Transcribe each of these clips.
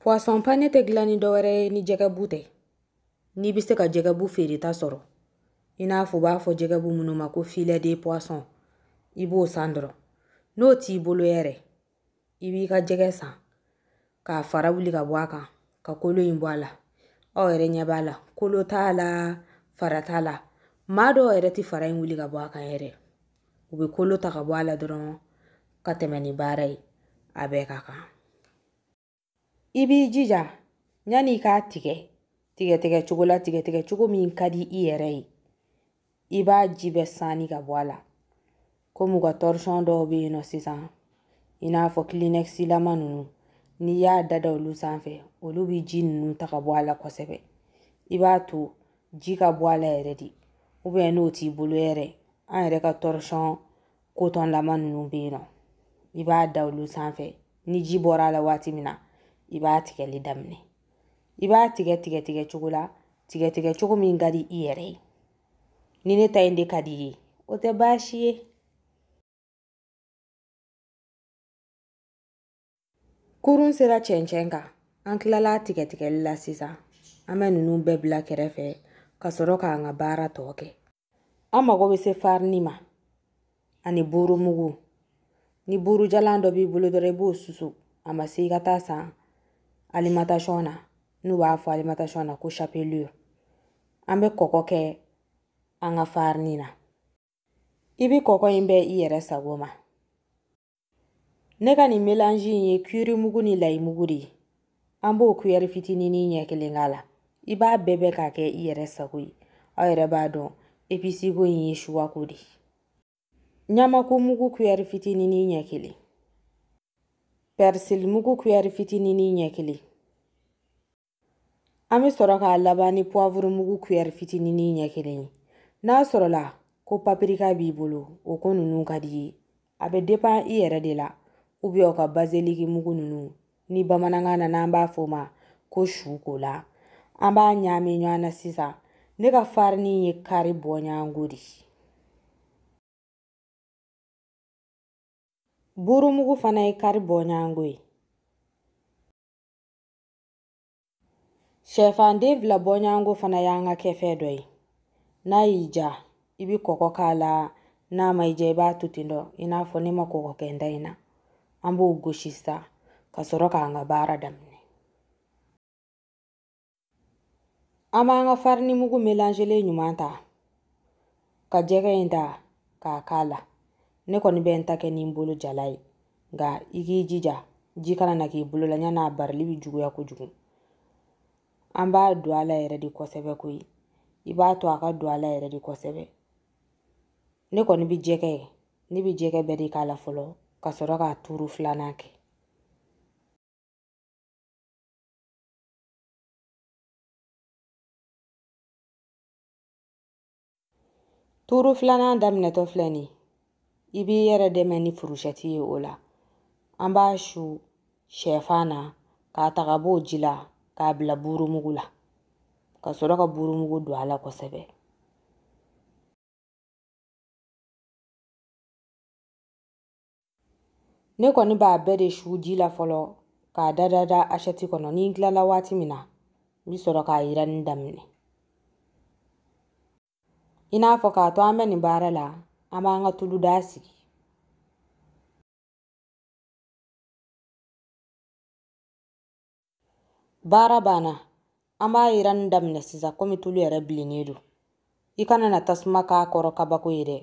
Poisson pané tɛ dilan ni dɔwɛrɛ ye ni jɛgɛbu tɛ n'i bɛ se ka jɛgɛbu feereta sɔrɔ i n'a fɔ u b'a fɔ jɛgɛbu minnu ma ko filet de poisson i b'o san dɔrɔn n'o t'i bolo yɛrɛ i b'i ka jɛgɛ san k'a fara wuli ka bɔ a kan ka kolo in bɔ a la aw yɛrɛ ɲɛ b'a la kolo t'a la fara t'a la maa dɔw yɛrɛ tɛ fara in wuli ka bɔ a kan yɛrɛ u bɛ kolo ta ka bɔ a la dɔrɔn ka tɛmɛ ni baara ye a bɛɛ ka kan i b'i jija yanni i k'a tigɛ tigɛtigɛ cogo la tigɛtigɛ cogo min ka di i yɛrɛ ye i b'a ji bɛɛ sanni ka bɔ a la komi u ka tɔrɔsɔn dɔw bɛ yen nɔ sisan i n'a fɔ kilinɛkisilama ninnu n'i y'a dada olu sanfɛ olu bɛ ji ninnu ta ka bɔ a la kosɛbɛ i b'a to ji ka bɔ a la yɛrɛ de ubiyɛn n'o t'i bolo yɛrɛ an yɛrɛ ka tɔrɔsɔn kotɔnlama ninnu bɛ yen nɔ i b'a da olu sanfɛ ni ji bɔra a la waati min na i b'a tigɛli daminɛ i b'a tigɛ tigɛ tigɛ cogo la tigɛ tigɛ cogo min ka di i yɛrɛ ye ni ne ta in de ka di i ye o tɛ baasi ye kurun sera cɛncɛn kan an tilala tigɛtigɛli la sisan an bɛ ninnu bɛɛ bila kɛrɛfɛ ka sɔrɔ k'an ka baara tɔ kɛ an mago bɛ se farini ma ani buurumugu ni buurujalan dɔ b'i bolo dɔrɔn i b'o susu a ma se i ka taa san alimatasɔn na n'u b'a fɔ alimatasɔn na ko chapelure an bɛ kɔkɔ kɛ an ka farini na i bɛ kɔkɔ in bɛn i yɛrɛ sago ma ne ka nin melanji in ye kiri mugu ni layi mugu de ye an b'o kuyɛri fitinin nin ɲɛ kelen k'a la i b'a bɛɛ bɛn k'a kɛ i yɛrɛ sago ye aw yɛrɛ b'a dɔn episiko in ye suwako de ye ɲamaku mugu kuyɛri fitinin nin ɲɛ kelen pɛrisili mugu kuyɛri fitinin nin ɲɛ kelen an bɛ sɔrɔ k'a laban ni puwavuru mugu kuyɛri fitinin ɲɛ kelen ye n'a sɔrɔla ko papirika b'i bolo o ko ninnu ka di i ye a bɛ depan i yɛrɛ de la ubiyɛn u ka bazeliki mugu ninnu ni bamanankan na n'an b'a fɔ o ma ko sukɔla an b'a ɲaami ɲɔgɔn na sisan ne ka farini ye kari bɔɲɔgɔnko de ye burumugu fana ye kari bɔɲɔgɔnko ye Sɛfanden fila bɔɲɔgɔnko fana y'an ka kɛfɛn dɔ ye n'a y'i diya i bɛ kɔkɔ k'a la n'a ma i diya i b'a to ten dɔrɔn i n'a fɔ ne ma kɔkɔ kɛ n ta in na an b'o gosi sisan ka sɔrɔ k'an ka baara daminɛ an b'an ka farini mugu melanzelen ɲuman ta ka jɛgɛ in ta k'a k'a la ne kɔni bɛ n ta kɛ ni n bolo jalan ye nka i k'i jija ji kana na k'i bolo la yan'a barili bɛ juguya kojugu an b'a don a la yɛrɛ de kosɛbɛ koyi i b'a to a ka don a la yɛrɛ de kosɛbɛ ne kɔni bɛ jɛgɛ ye ne bɛ jɛgɛ bɛɛ de k'a la fɔlɔ ka sɔrɔ k'a turu filanan kɛ Tuuru filanan daminɛtɔ filɛ nin i b'i yɛrɛ dɛmɛ ni furusɛti ye o la an b'a su sɛfan na k'a ta ka b'o ji la k'a bila burumugu la ka sɔrɔ ka burumugu don a la kosɛbɛ ne kɔni b'a bɛɛ de su ji la fɔlɔ k'a da da da asɛti kɔnɔ ni n tilala waati min na n bɛ sɔrɔ k'a yiranni daminɛ i n'a fɔ k'a to an bɛ nin baara la an b'an ka tulu daga sigi baara banna an b'a yiranni daminɛ sisan komi tulu yɛrɛ bilennen don i kana na tasuma k'a kɔrɔ kabako ye dɛ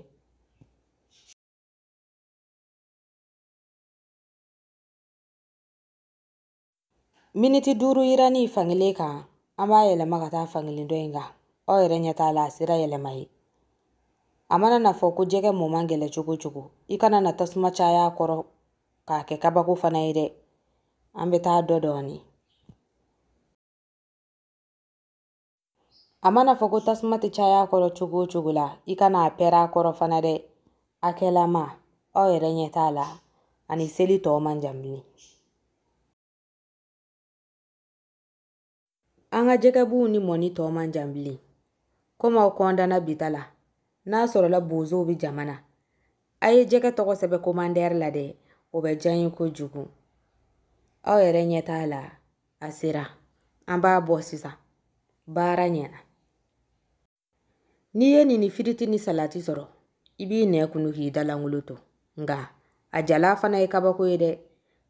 miniti duuru yiranni fankelen kan an b'a yɛlɛma ka taa fankelen dɔ in kan aw yɛrɛ ɲɛ t'a la a sera yɛlɛma ye a mana na fɔ ko jɛgɛ mɔ man gɛlɛ cogo o cogo i kana na tasuma caya a kɔrɔ k'a kɛ kabako fana ye dɛ an bɛ taa dɔ dɔɔnin a mana fɔ ko tasuma tɛ caya a kɔrɔ cogo o cogo la i kana a pɛrɛn a kɔrɔ fana dɛ a kɛlama aw yɛrɛ ɲɛ t'a la ani seli tɔ man jan bilen an ka jɛgɛbu nin mɔni tɔ man jan bilen komi aw kɔndana bi ta la n'a sɔrɔla bozow bɛ jama na a ye jɛgɛ tɔgɔ sɛbɛn komandɛri la dɛ o bɛ diya n ye kojugu aw yɛrɛ ɲɛ t'a la a sera an b'a bɔ sisan baara ɲɛna n'i ye nin ni firiti ni salati sɔrɔ i b'i nɛn kunu k'i da lankolon to nka a jalan fana ye kabako ye dɛ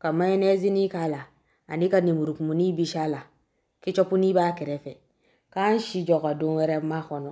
ka mayonɛzini k'a la ani ka nemurukumuni bisi a la kecɔpuni b'a kɛrɛfɛ k'an si jɔ ka don wɛrɛ makɔnɔ